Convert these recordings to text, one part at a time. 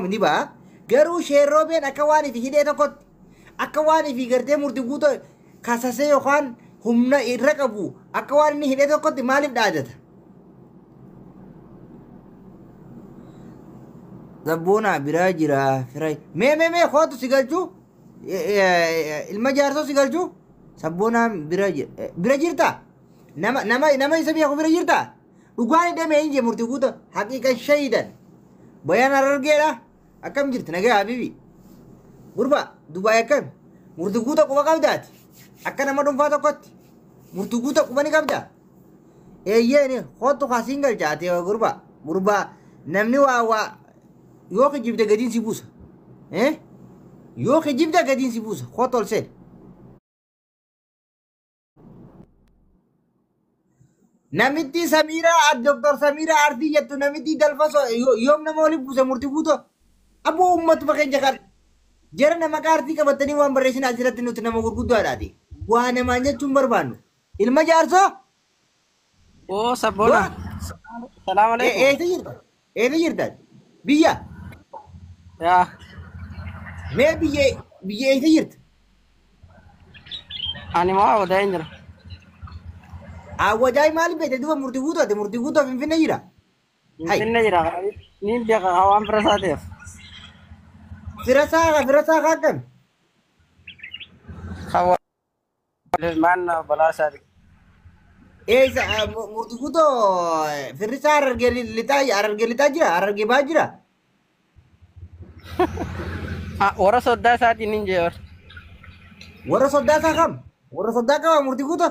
ni ba'a. Garuu sheerroobeen akka waan ifi hidhee tokkotti akka waan ifi gartee murti guutuu kasasee yookaan humna irra qabu akka waan inni hidhee tokkotti maaliif dhaadata? Zabboonaa biraa jira firay. Mee mee mee kootu si galchuu? ilma jaarsoo si galchu sabboonaan bira jir- eh, bira jirta nama nama nama isa beeku bira jirta dhugaan hidhame hin jee murtii guuta haqiiqan shahidan bayaan arargeedha akkam jirti nagaa habibi gurba dubaay akkam murtii guuta quba qabdaati akka nama dhuunfaa tokkotti murtii guuta quba ni qabda Eeyyeeni kottu kaa siin galcha ati gurba gurba namni waa waa yoo kijibde gadiin si buusa. Eh? Yoo kijibde gadiin si buusa kottu ol seeni. Namitti Samiiraa Dr. Samiiraa Artii jettu namitti dalfaso yoom nama waliin buuse murti guuto. Abboo uummatuma keenya kan jara nama qaartii qabatanii waan barreessin asirratti nuti nama gurguddaadhaati. Waa namaan jechuun barbaannu. Ilma jaarsoo? Oo sabboona. Salaam E- alaikum. Eessa jirta? Eessa jirta? Biyya? Yaa. Mee biyya biyya eessa jirta? Ani moo awwadaa hin jira. Awwajaay maal beekte duuba murtii guutuu ati murtii guutuu finfinnee jira? Hai. Finfinne jira. Niin beeka haa waan bira isaa ta'eef. Firasaa firasaa kaa akkami? Kan Ilmaan balaa isaati. Eessa murtifutoo firrisaa harargee lixaa harargee lixaa jira harargee baa jira. Ah, Warra soddaa isaatiin hin jeebar. Warra soddaa isaa kam? Warra soddaa qaba murtifutoo.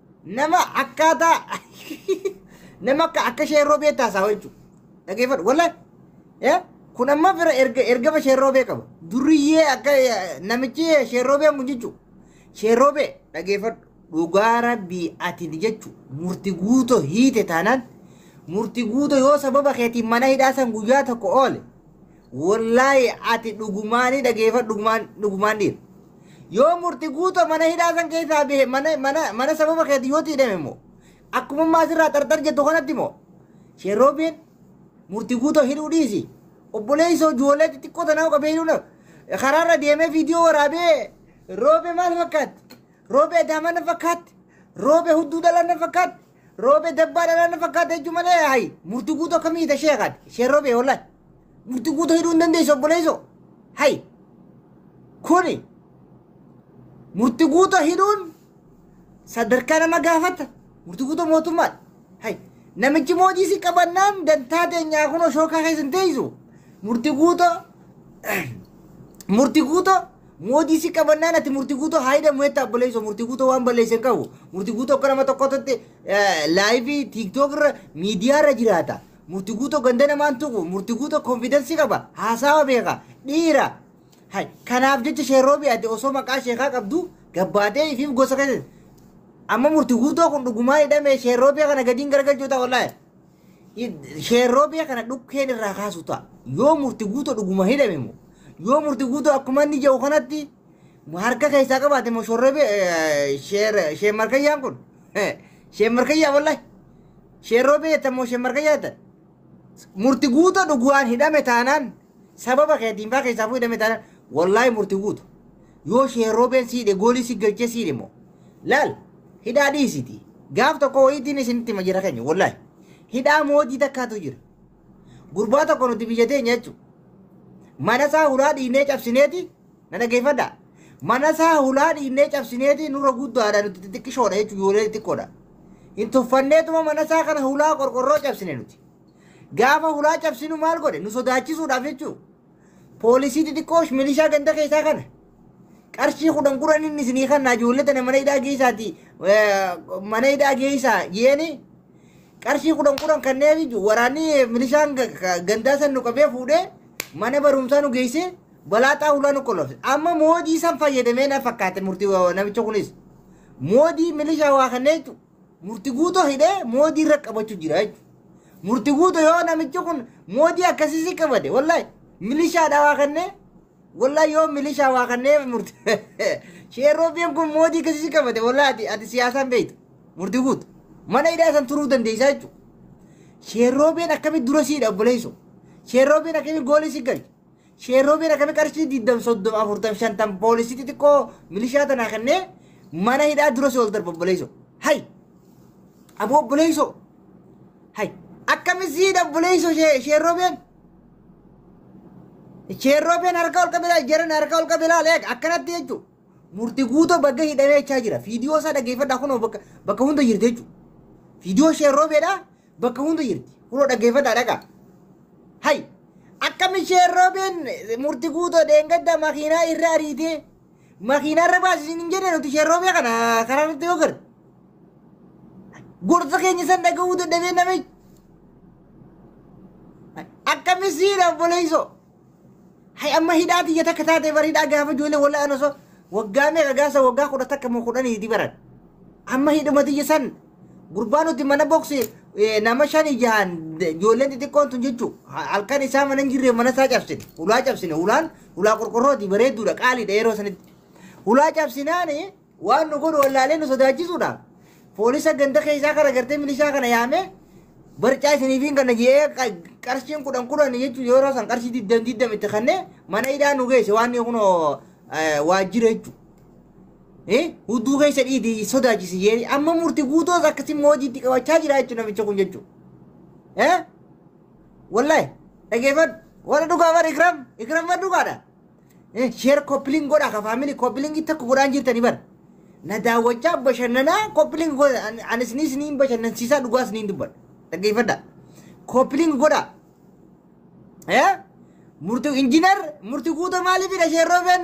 nama akkaataa nama akka akka sheerroo beektaa isaa jechuudha. Dhageeffadhu wallaan kun amma fira erga ergama sheerroo bee qaba. Duriyyee akka eh, namichi sheerroo bee kun jechuudha. Sheerroo bee dhageeffadhu dhugaa rabbii ati jechuudha. Murti guutoo hiite taanaan murti guutoo yoo sababa keetiin mana hidhaa san guyyaa tokko oole Wollaahi ati dhugumaani dhageefadhu dhugumaan dhugumaan dhiira. Yoo murti guuto mana hidhaa san keessaa bahe mana mana mana sababa keeti yoo tiidhame immoo akkuma ammaa asirraa xarxar jettu kanatti immoo sheerroobeen murti guuto hidhuu dhiisi. Obboleessoo ijoollee xixiqqoo tanaa qabee hidhuu na karaarra deemee viidiyoo waraabee roobe maal fakkaatti? Roobe adaama na fakkaatti? Roobe hudduu dhala na fakkaatti? Roobe dabbaa dhalaa na fakkaata jechuun malee hayi murti guutuu akka miidha ishee kaate ishee roobe hollaa murti guutuu hidhuu hin dandeessu obboleessoo hayi kuni murti guutuu hidhuun sadarkaa nama gaafata murti guutuu mootummaadha hayi namichi moojii si qabannaan dantaa teenyaa kunoo shookaa keessa hin teessu murti guutuu murti guutuu Mootii si qabannaan ati murti guutoo haayida mu'etta abboleessoo murti guutoo waan balleesse hin qabu. Murti guutoo akka nama tokkotti laayivii tiiktook irra miidiyaa irra jiraata. Murti guutoo ganda namaan tuqu murti guutoo konfidansii qaba haasawa beeka dhiira. Hay kanaaf jecha sheerroobi ati osoo maqaa sheekaa qabdu gabbaatee ifiif gosa keessa. Amma murti guutoo kun dhugumaa hidhamee sheerroobi kana gadiin garagalchuu ta'a wallaahi. Sheerroo biyya kana dhukkeen irraa kaasu ta'a. Yoo murti guutuu dhuguma hidhame immoo yoo murti guutuu akkuma inni jedhu kanatti harka keessaa qabaate immoo shorree biyya sheen markayyaan kun sheen markayyaa wallahi sheerroo biyya jettan immoo sheen markayyaa jettan murti guutuu dhuguwaan hidhame taanaan Sababa kee diinfaa keessaa fuudhame taanaan wallaahi murtii guutu. Yoo shee roobeen siidhe goolii si galchee siidhe immoo. Laal hidhaa dhiisiti. Gaaf tokko wayiitiin isinitti hima jira keenya wallaahi. Hidhaa moojii takkaatu jira. Gurbaa tokko nuti biyya teenya jechuudha. Mana isaa hulaa dhiinee cabsineeti na dhageeffadha. Mana isaa hulaa dhiinee cabsineeti nurra guddaadha nuti xixiqqishoodha jechuudha ijoollee xixiqqoodha. Hin tuffanneetuma mana isaa kana hulaa qorqorroo cabsine nuti. Gaafa hulaa cabsinu maal godhe nu sodaachisuudhaaf jechuu poolisii xixiqqoo milishaa ganda keessaa kana qarshii kudhan kudhan inni isinii kannaa ijoollee tana mana hidhaa geessaati mana hidhaa geessaa jeeni qarshii kudhan kudhan kannee biyyu waraanni milishaan ga- ga- gandaa san nu qabee fuudhee mana barumsaa nu geessee balaaxaa hulaa nu qolofte amma moodii san fayyadamee na fakkaate murtii wa- namicha kunis moodii milishaa waa kannee jechuudha. Murti guuto hidhee moodii irra qabachu jira jechuudha. Murti guuto yoo namichi kun moodii akkasisii qabate wallahi milishaa dhawaa kannee wallahi yoo milishaa waa kannee murti sheeroobiin kun moodii akkasisii qabate wallahi ati, ati siyaasaan beektu murti guuto mana hidhaa san turuu dandeessaa jechuudha. Sheeroobiin akkamitti dura siidha obboleessoo? Sheeroobiin akkamitti goolii si galche? Sheerroo beera kami qarshii diddam soddom afurtam shantam poolisii xixiqqoo milishaa tanaa kennee mana hidhaa dura si ol darba obboleessoo. Hay! Aboo obboleessoo! Hay! Akkami siidha obboleessoo shee- sheerroo been? Sheerroo been harka ol qabila jaran harka ol qabila leeg akkanatti jechuun murti guutoo bagga hidhamee jechaa jira. Fiidiyoo isaa dhageeffadhaa kunoo bakka bakka hunda jirti jechuudha. Fiidiyoo sheerroo beedhaa bakka hunda jirti. Kunoo dhaggeeffataa dhaqaa. Hay! Akkam ishee roobeen murti guutoo dheengadda makiinaa irra ariitee makiinaa irra baasisin hin jenne nuti ishee roobee kana karaa irratti yoo garre. Gorsa keenya san dhaga'uu dadhabee namichi. Akkam isiidha obboleessoo. Hay amma hidhaa tiyya takka taatee bar hidhaa gaafa ijoollee walaa an osoo waggaa meeqa gaasa waggaa kudha takka moo kudhanii hidhi baran. Amma hidhuma tiyya san gurbaa nuti mana boksi eh, nama shanii jahan de- ijoolleen xixiqqoon tun jechuu Ha- halkan isaa mana hin jirre mana isaa cabsine ulaa cabsine ulaan ulaa qorqorrooti bareedduudha qaaliidha yeroo sanitti. Ulaa cabsinaani Waan nu godhu wallaalee nu sodaachisuudhaaf poolisa ganda keessaa kana gartee milishaa kana yaamee barcaa isiniifiin kana jedhee qa- qarshiin kudhan kudhan jechuun yeroo san qarshii digdam digdam itti kannee mana hidhaa nu geesse waan kun waajjira jechuudha. Eh, Hudduu keessa dhiiti sodaachisi jedhee amma murti guutoos akkasii moojiitti qabachaa jira jechuudha namicha kun jechuudha. Eh? Wallahi dhageeffadhu warra dhugaa bara ikram ikram warra dhugaadha. Sheer koppiling godhaa ka faamilii koppilingi takka godhaan jirtani bar. Na daawwachaa bashannanaa koppiling godha ani isiniis ni bashannansiisaa dhugaas ni dubbadha. Dhaggeeffadha. Koppiling godhaa. Eh? Murti injinar murti guuta maaliifidha sheerroofeen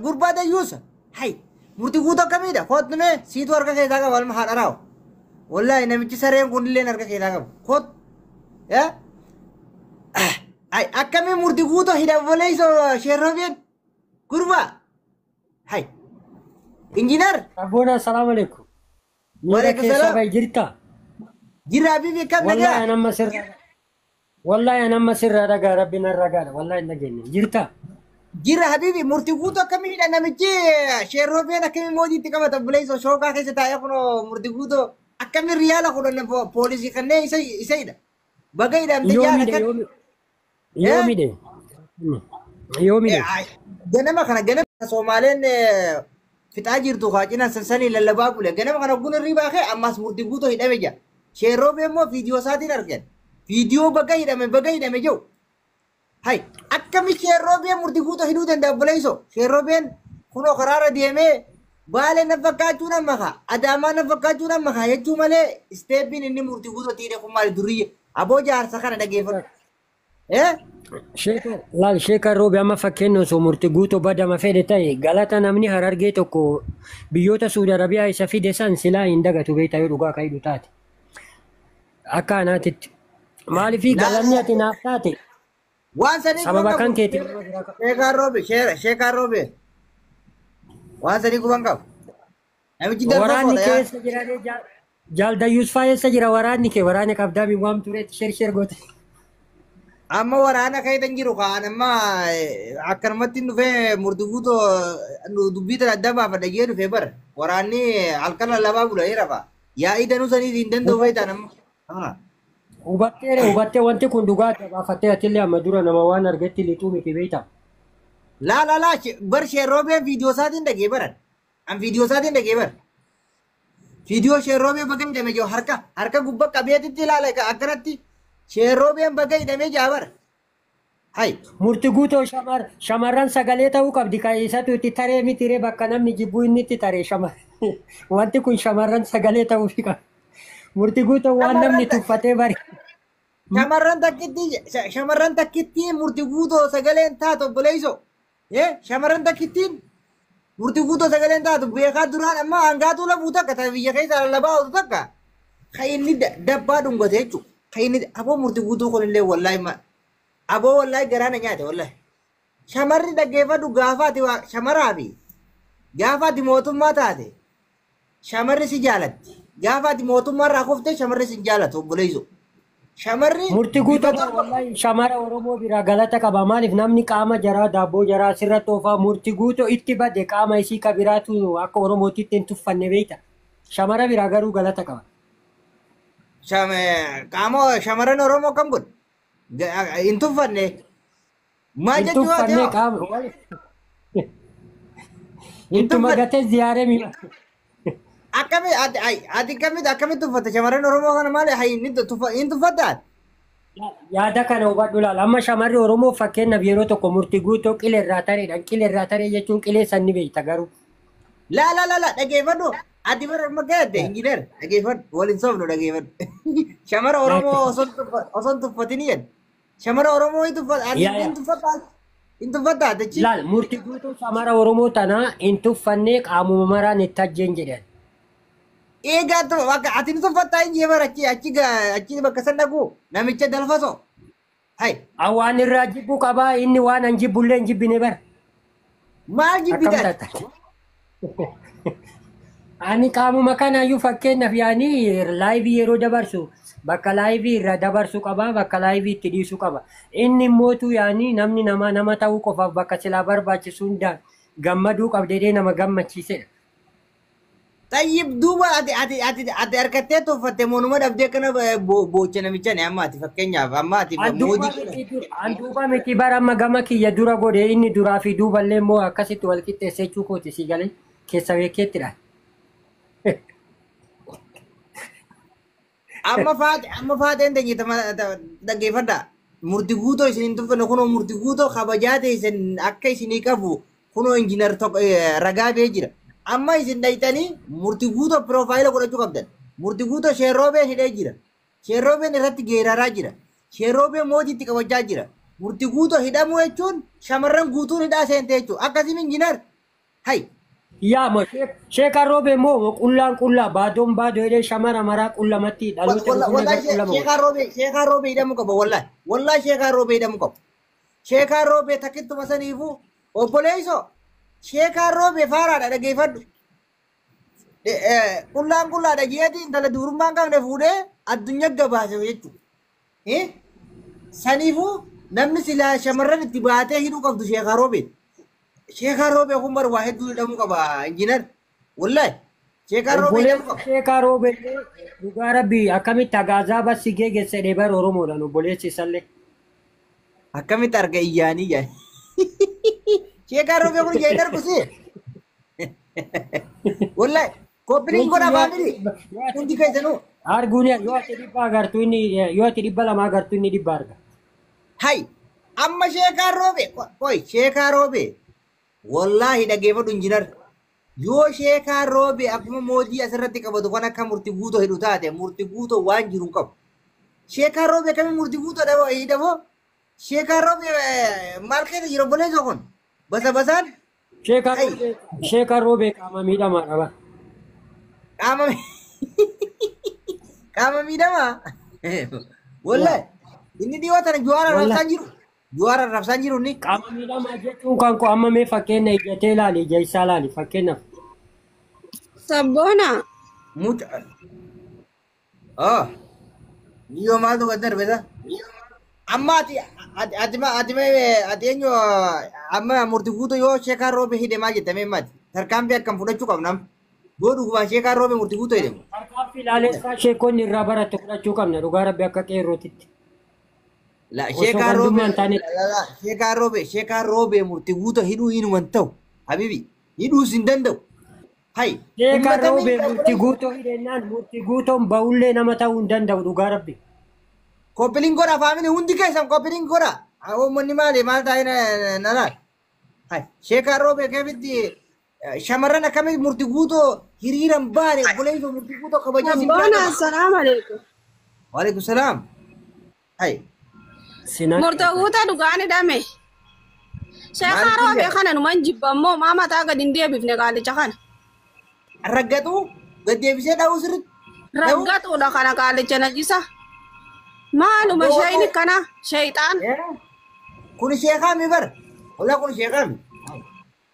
gurbaa dayyuusa. Hay murti guuta akkamiidha koottu mee siitu harka keessaa qaba alma haadharaawo. Wallaahi namichi sareen kunillee harka keessaa qaba. Koottu. Eh? Ay akkami murti guuto hidha obboleeyso sheerroobeen gurbaa. Hay. Injiinar Abboona salaam alaikum. Miira Waalaikum keessa salaam. bahi jirta. jirra habiibi akkam Wallahi nagaa. an amma sirra Wallahi an amma sirra dhagaa rabbi narra gaadha. Wallahi hin dhageenye. Jirta. Jirra habiibi murti guuto akkami hidha namichi sheerroobeen akkami mootii itti qabata obboleeyso shookaa keessa taa'ee kunoo murti guuto akkami riyaala kudhan po- poolisii kanneen isa isa hidha. Baga hidhamte Yoo jaala miidhe kan. yoo miidhe. Yoo miidhe. Yoo miidhe. Ganama kana ganama Soomaaleen eh, fixaa jirtu kaa cinaan sansanii lallabaa bule. Ganama kana ogguun irrii baakee ammaas murtii guutoo hidhame jira. Sheerroo beemmoo viidiyoo isaatiin argan. Viidiyoo baga hidhame baga hidhame jiru. Hay akkami sheerroobeen murti guutuu hidhuu danda'a obboleessoo. Sheerroobeen kunoo karaarra deemee baalee na fakkaachuu na maka adaamaa na fakkaachuu na maka jechuu malee isteeppiin inni murti guutuu tiidhe kun maali duriyye aboo jaarsa kana dhageeffadhu. Eh? Sheeka laal sheeka roobi amma fakkeenya osoo murti guutuu badama fedhe ta'e galata namni harargee tokko biyyoota Suudi Arabiyaa isa fide san silaa hin dagatu beektaa yoo dhugaa ka'idhu taate. Akka anaatitti. Maaliif galanni ati naaf taate Waan sanii sababa guban kan qabu. keetiin nama bira ka- Sheekaa Roobe, shee- Sheekaa Roobe. Waan sanii guban qabu. Namichi darba waraanni koodha kee yaa. eessa jira ree jaal- jaal dayyuus faa eessa jira waraanni kee waraana qabdaa min waamtu reetti sher sher goote. Amma waraana keessa hin jiru kaan amma eh, akkanumatti hin dhufee murtufuuto dubbii tana adda baafadha jee dhufee bara. Waraanni halkan lallabaa bula jee rafa. Yaa'ii danuu saniif hin danda'u beektaan amma. Haa. Hubatteera hubattee wanti kun dhugaa adda baafattee atillee amma dura nama waan argetti lixuu miti beektaa. Laa laa laa she- bar sheerroobeen viidiyoo isaatiin dhagee baran. An viidiyoo isaatiin dhagee bar. Viidiyoo sheerroobee baga hidhame jiru harka harka gubba qabeetitti ilaala egaa akkanatti sheerroobeen baga hidhame jaa bar. Hay murti guutoo shamar shamarran sagalee ta'uu qabdi kan isatu itti taree miti ree bakka namni jibbuu inni itti taree shamar wanti kun shamarran sagalee ta'uu fi qaba. Murti guutoo waan namni Shamarran ta- tuffatee bari. shamarran takkitti shamarran takkitti murti guutoo sagaleen taatu obboleesso Ee shamarran takkittiin murtii guutuu sagaleen taatu beekaa duraan amma hangaatuu labuu takka ta biyya keessa lallabaa oolu takka ka inni da- dabbaa dhungate jechuudha. Ka inni aboo murtii guutuu kunillee wallaahi ma aboo wallaahi garaa na nyaate wallaahi. Shamarri dhaggeeffadhu gaafaati waa shamaraa fi gaafaati mootummaa taate Shamarri si jaalatti. Gaafa ati mootummaa irraa kufte shamarri si hin jaalatu obboleessoo. Shamarri Murti bifa guutuu tokko wallahi shamara Oromoo biraa galata qaba maaliif namni qaama jaraa daabboo jaraa sirratti oofaa murti guutuu itti bade qaama isii ka biraatu akka Oromootti itti hin tuffanne beekta. Shamara biraa garuu galata qaba. sham- qaama shamarran Oromoo kam godhe? Ga- Hin tuffanne. Maa Hin jechuu waati tuffanne hoo? qaama. wal- Hin Ittuma tuffanne. gatee ziyaaree mi. Akkami ati ay ati akkamitti akkamitti tuffatta shamarran Oromoo kana maali hay ni tuffa hin tuffatta ati? Yaada kana hubadhu laal. Amma shamarri Oromoo fakkeenyaaf yeroo tokko murtii guutuu qilee irraa tareedhaan qilee irraa taree jechuun qilee san ni beekta garuu. Laa laa laa laa dhageeffadhu ati bara amma gaadde injiinar dhageeffadhu waliin soofnu dhageeffadhu. Shamara Oromoo osoo hin tuffa- osoo hin tuffatin jedhe. Shamara Oromoo hin tuffata. Ani Yaa, yaa. hin tuffata. Hin tuffata. Dachi. Laal murti guutuu shamara Oromoo tanaa hin tuffannee qaamuma maraan itti ajjeen jedhan. Eegaa tu akka ati hin tuffatta hin jee bara achi achi ga- achi bakka san dhaqu namicha dalfaso. Hai. Awwaan irraa jibbu qabaa inni waan an jibbullee hin jibbine bara. Maal Akkam jibbitan? taata? Ani qaamuma kanaayyuu fakkeenyaaf yaanii laayivii yeroo dabarsu bakka laayivii irraa dabarsuu qaba bakka laayivii itti dhiisuu qaba. Inni immootu yaanii namni nama nama ta'uu qofaaf bakka silaa barbaachisu hundaan gammaduu qabdeedee nama gammachiisedha. Xayyib duuba ati ati ati ati harkattee toffatte moonuma dhabdee kana boocha namicha ne amma ati fakkeenyaaf amma ati An duuba moodii kana. miti du- an duuba miti bara amma gama kiyya dura godhe inni duraa fi duuba illee immoo akkasitti wal qixxeesse jechuu kooti si galee keessa beekeettidha. Amma faate amma faateen teenye tama dhaggeeffadha. Murti guutoo isin hin tuffanne kunoo murti guutoo kabajaa teessan akka isinii qabu kunoo injiinar tokko ragaa bee jira. Amma isin dhayxanii murti guutoo piroofaayila godhachuu qabdan. Murti guutoo sheerroobeen hidhee jira. Sheerroobeen irratti geeraraa jira. Sheerroobeen mootii itti qabachaa jira. Murti guutoo hidhamuu jechuun shamarran guutuun hidhaa seente jechuudha. Akkasiin injiinar Hay. Yaa ma sheekaan roobee moo qullaan qullaa baadoon baadoo jedhee shamara maraa qullamatti dhaloota dhufu nagaa Wallahi qullama godha. sheekaa roobee sheekaa roobee hidhamu qaba wallahi. Wallahi sheekaa roobee hidhamu qaba. Sheekaa roobee takkittuma saniifu obboleessoo sheekaa roobee faaraadha dhageeffadhu. De- eh, Qullaan qullaadha jeetii intala dubrummaan qabne fuudhee addunyaa gabaase jechuudha. Eh? Saniifuu namni silaa shamarran itti baatee hidhuu qabdu sheekaa roobee. Sheekaa roobee kun bar waa hedduu hidhamuu qaba injiinar. Wallahi. Sheekaa roobee Obboleen hidhamuu qaba. sheekaa roobee dhugaa rabbii akkamitti agaazaa bassi geegesse dheebar Oromoodhaan obboleessi isallee. Akkamitti arga iyyaanii yaa. Sheekaa roobee kun yaa hin argu si. Wallahi. Koppiliin godha faamili. Hundi keessanuu. Arguun yoo ati dhibba agartu inni yoo ati dhibba lama agartu inni dhibba arga. Hay. Amma sheekaa roobe. Qoy sheekaa roobe. Wallaahi dhageeffadhu injinar. Yoo sheekaa roobe akkuma moojii asirratti qabatu kan akka murti guutoo hidhu taate murti guutoo waan jiru hin qabu. Sheekaa roobe akkamiin murti guutoo dhaboo hidhaboo? Sheekaa roobe maal keessa jira obboleessa kun? Basa basaan Sheekaa Ay. Roobee Sheekaa Roobee qaama miidhamaa qaba. Qaama qaama miidhamaa. Wallahi inni dhiyoo tana juwaara Wallahi. rabsaan jiru. Juwaara rabsaan jiru inni. Qaama miidhamaa jechuun kan koo amma mee fakkeenya ijatee ilaali ija isaa ilaali fakkeenyaaf. Sabboona. Muca Oh, niyo maal tokko itti darbesa? Amma ati ati ati ma ati ma ati eenyu amma murti fuutu yoo sheekaa roobe hidhe maal jette mee mati? Tarkaanfii akkam fudhachuu qabnam? Yoo dhugubaan sheekaa roobe murti fuutu hidhe. Tarkaanfii laalessaa sheekonni irraa baratte fudhachuu qabna dhugaa rabbi akka qeerrootitti. La Osoo sheekaa roobe gandummaa hin taane la la sheekaa roobe sheekaa roobe murti fuutu hidhuu hinuman ta'u habibi hidhuus hin danda'u. Hay Sheekaa ummata roobee miidhaa murti godhanii guutoo hidhennaan murti guutoon ba'ullee nama ta'uu hin danda'u dhugaa rabbi. koppiliin godha faamili hundi keessan koppiliin godha. Haa uummanni maali maal taa'ee na- na laal. Hay sheekaa roobee keefitti eh, shamarran akkamitti murti guutoo hiriiran baane obboleessa murti guutoo kabajaa siin Abbaana, jaallatu. assalaamu alaikum. Waalaikum salaam. Hay. Sinan Murtoo guutaa dhugaan hidhame. Sheekaa Maaliif roobee hidhame? kana numan jibba immoo maa mataa gadi hin deebifne qaalicha kana. Raggatu gaddeebisee dha'uu sirriitti. Dha'uu. Raggatuudha kana qaalicha najisa. Maaluma Abboo, shayni abboo. kana shayxaan. Eh, Kun sheekaa mi bar? Ola kun sheekaa mi?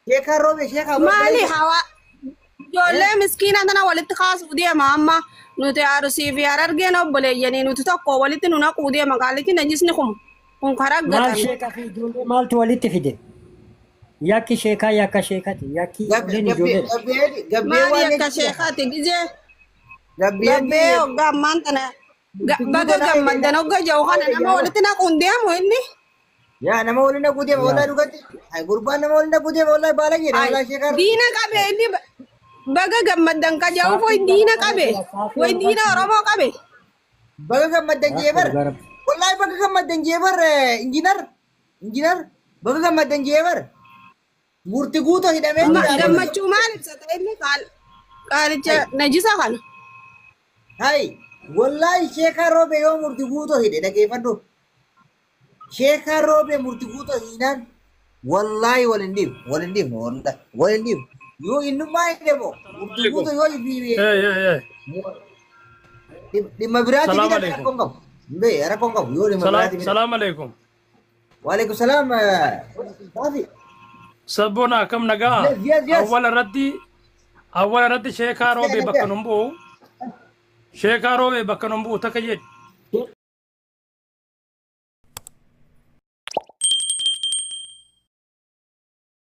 Sheekaa roobee sheekaa Maali hawaa ijoollee miskiina tana walitti kaasuuf deema amma nuti arsii fi harargeen obboleeyyanii nuti tokko walitti nu naquu deema qaalichi najisni kun kun karaa Maal gatan. sheekaa fi ijoollee maaltu walitti fide? Yakki sheekaa yakka sheekati. Yakki ijoolleen ijoollee. Gabbee Maali waan akka sheekaati gizee gabbee hoggaa ammaan tana Ga- Itti Baga guddaa gammaddan jedha. hogga ja'u kana nama walitti naquun deemu inni. Yaa nama waliin dhaquu deema wallahi dhugatti. Ay gurbaan nama waliin dhaquu deema wallahi baala jedha Ay, wallahi sheekar. Diina qabe inni ba- baga gammaddan ka ja'u foy diina qabe. Way diina Oromoo qabe. Baga gammaddan jeebar. Wallahi baga gammaddan jeebar injinar. Injinar baga gammaddan jeebar. Gurti guuto hidhamee Ma- jira. gammachuu maal ibsata inni qaal qaalicha Hai. najisa kana Hai. Wallaahi sheekaa roobee yoo murti guuto hidhe dhageeffadhu. Sheekaa roobee murti guuto hiinaan wallaahi wal hin dhiifnu. Wal hin dhiifnu wallaahi. Wal hin dhiifnu. Yoo innummaa hidhe moo murti guuto yoo hibiibee Hey, hey, hey. dhimma biraatti Salaam hidhate alaikum. rakkoo hin qabu. Hin bee rakkoo hin qabu yoo dhimma biraatti Salaam, hidhate. salaam alaikum. Waalaikum salaam. Baafi. Sabboona akkam nagaa? Yes, yes, yes. Awwala irratti awwala irratti sheekaa Nagaa, roobee bakka nagaa. nun bu'u. Sheekaa roobee bakka nun bu'u takka jedhi.